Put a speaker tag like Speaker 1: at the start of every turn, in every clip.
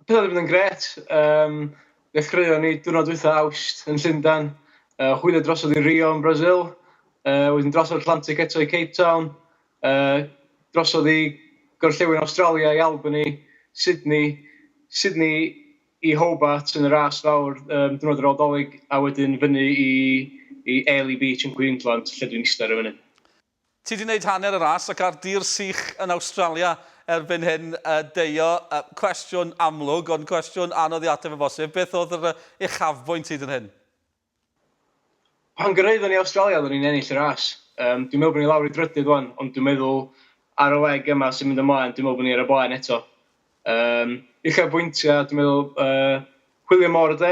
Speaker 1: Pethau wedi bod yn gret. Um, Dechreuon ni diwrnod wytha awst yn Llundain. Uh, hwylio drosodd i Rio yn Brazil. Uh, wedyn drosodd Atlantic eto i Cape Town. Uh, drosodd i gorllewin Australia i Albany, Sydney, Sydney i Hobart yn y ras fawr um, diwrnod yr Aldolig, a wedyn fyny i, i Airlie Beach yn Queensland, lle dwi'n eistedd ar y funud. Ti 'di neud
Speaker 2: hanner y ras ac ar dir sych yn Awstralia erbyn hyn Deio. Cwestiwn amlwg, ond cwestiwn anodd i ateb o bosib. Beth oedd yr uchafbwynt hyd yn hyn? Pan
Speaker 1: gyrhaeddon ni Awstralia oeddwn ni'n ennill y ras. Yym dwi'n meddwl bod ni lawr i drydydd wan, ond dwi'n meddwl ar y leg yma sy'n mynd ymlaen dwi'n meddwl bod ni ar y blaen eto. Yym uchafbwyntiau dwi'n meddwl yy chwilio mor y dde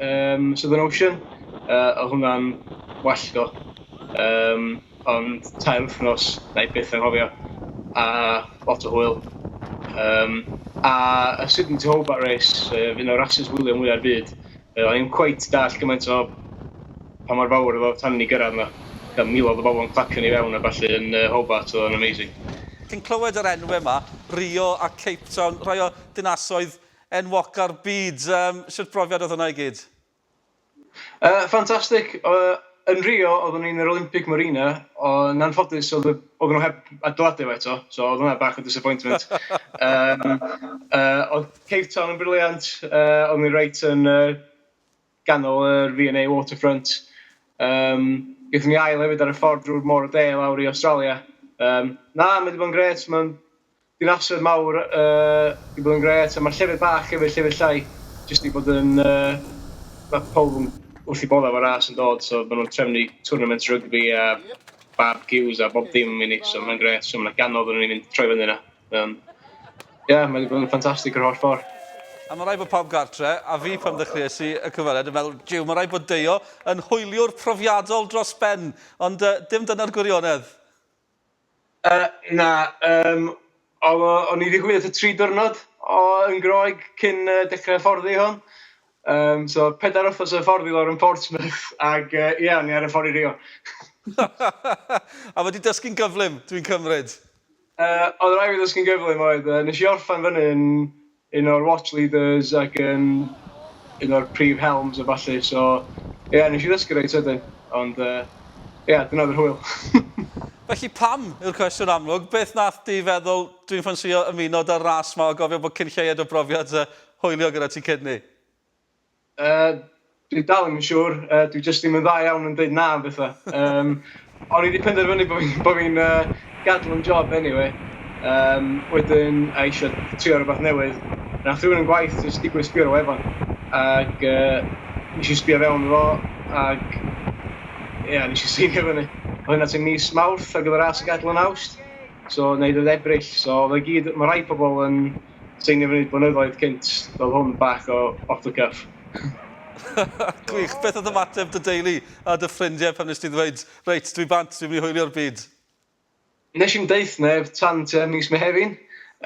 Speaker 1: yym Southern Ocean yy oedd hwnna'n well do yym ond tair wythnos wna i byth anghofio a lot o hwyl yym a y Sydney to Hobart Race yy un o'r rasus hwylio mwya'r byd. O'n i ddim cweit dallt gymaint o pa mor fawr oedd o tan i ni gyrraedd 'na. Fel miloedd o bobl yn clacio ni fewn a ballu yn yy Hobart, oedd o'n amazing. Ti'n clywed yr
Speaker 2: enwe 'ma, Rio a Cape Town, rhai o dinasoedd enwoca'r byd, yym shwt brofiad oedd hwnna i gyd? Yy ffantastic,
Speaker 1: yy. Yn Rio oeddwn i yn yr Olympic Marina ond yn anffodus oedd y... oedden nhw heb adeiladu fo eto so oedd hwnna bach o disappointment yym yy oedd Cape Town yn brilliant yy oeddwn i reit yn yy ganol yr V&A Waterfront yym gaethon ni ail hefyd ar y ffordd drwy'r Môr y De lawr i Awstralia yym na mae 'di bod yn grêt mae'n Dinasoedd mawr yy 'di bod yn grêt a ma'r llefydd bach efyd, llefydd llai jyst 'di bod yn yy ma' pawb yn wrth 'u bodda' efo ras yn dod so ma' nhw'n trefnu twrnaments rygbi a barbeciws a bob dim i ni so ma'n grêt so ma' 'na gannoedd o nhw'n mynd troi fyny 'na mae o'n ie mae 'di bod yn ffantastig yr holl ffor'. A ma' raid bod pawb
Speaker 2: gartre', a fi pan ddechreuais i y cyfweliad yn meddwl 'jiw ma' raid bod Deio yn hwyliwr profiadol dros ben' ond yy dim dyna'r gwirionedd.
Speaker 1: Yy, na, yym, o- o- o'n i 'di gwylio tua tri diwrnod o yn Groeg cyn yy dechrau hyfforddi hwn. Yym, so pedair wythnos o hyfforddi lawr yn Portsmouth ac yy ia, o'n i ar y ffordd i Rio.
Speaker 2: A wedi dysgu'n gyflym, dwi'n cymryd? Yy, oedd
Speaker 1: rhaid fi ddysgu'n gyflym oedd, yy, nes i orffen fyny yn un o'r watch leaders ac yn un o'r prif helms a ballu so ie nes i ddysgu reit sydyn ond yy ie dyna oedd yr hwyl. Felly
Speaker 2: pam? yw'r cwestiwn amlwg. Beth nath di feddwl dwi'n ffansïo ymuno da'r ras ma o gofio bod cyn lleied o brofiad yy hwyliog gyda ti cyn 'ny? Yy
Speaker 1: dwi dal ddim yn siŵr, yy dwi jyst ddim yn dda iawn yn deud na am betha. Yym o'n i 'di penderfynu bo' fi'n bo' fi'n yy gadel 'yn job eniwe yym wedyn a isio trio rwbath newydd. Nath rywun yn gwaith jyst digwydd sbio ar y wefan ag yy nesh i sbio fewn iddo fo ag ia nesh i seinio fyny. O' hynna tua mis Mawrth ar gyfer AS yn gadel yn Awst so 'nai ddeud Ebrill so ma' gyd ma' rai pobol yn sy'n gymryd blynyddoedd cynt, fel hwn, bach o off the cuff.
Speaker 2: Gwych. Beth oedd ymateb dy deulu a dy ffrindiau pan nes di ddweud, reit, dwi bant, dwi'n mynd i hwylio'r byd? Nes
Speaker 1: i'm deuth neb tan tua mis Mehefin,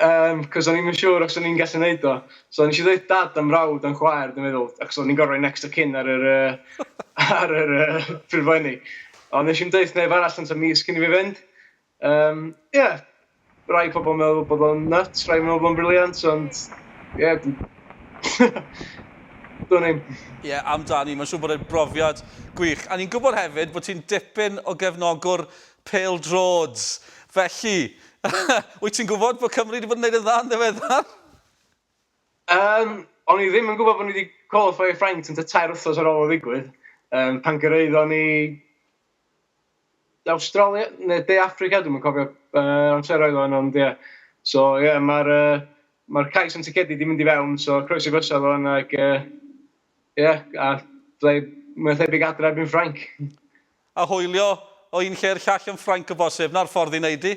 Speaker 1: yym, cos o'n i'm yn siŵr os o'n i'n gallu neud o. So nes i ddeuth dad a mrawd a'n chwaer dwi'n meddwl, achos o'n i'n gorfod rhoi next of kin ar yr yy ar yr yy ffurflenni. Ond nes i'm deuth neb arall tan tua mis cyn i fi fynd. Yym ie, rai pobl yn meddwl bod o'n nyts, rai yn meddwl bod o'n briliant, ond ie dwi... Dwn i'm. Ie, amdani, mae'n
Speaker 2: siŵr bod e'n brofiad gwych. A ni'n gwybod hefyd bod ti'n dipyn o gefnogwr pêl-droeds, felly wyt ti'n gwybod bod Cymru 'di bod yn gwneud yn dda yn ddiweddar? Yym,
Speaker 1: o'n i ddim yn gwybod bod ni 'di qualifio i Ffrainc tua tair wythnos ar ôl o ddigwydd, pan gyrhaeddon ni... De Awstralia neu De Affrica, dwi'm yn cofio be amseroedd oedd o ond ia. So ia ma'r yy ma'r cais am ticedi 'di mynd i fewn so croeso gosa fo yna ag yy ia a fydda i mwy na thebyg adra erbyn Ffrainc. A
Speaker 2: hwylio o un lle i'r llall yn Ffrainc o bosib, 'na'r ffordd i neud hi.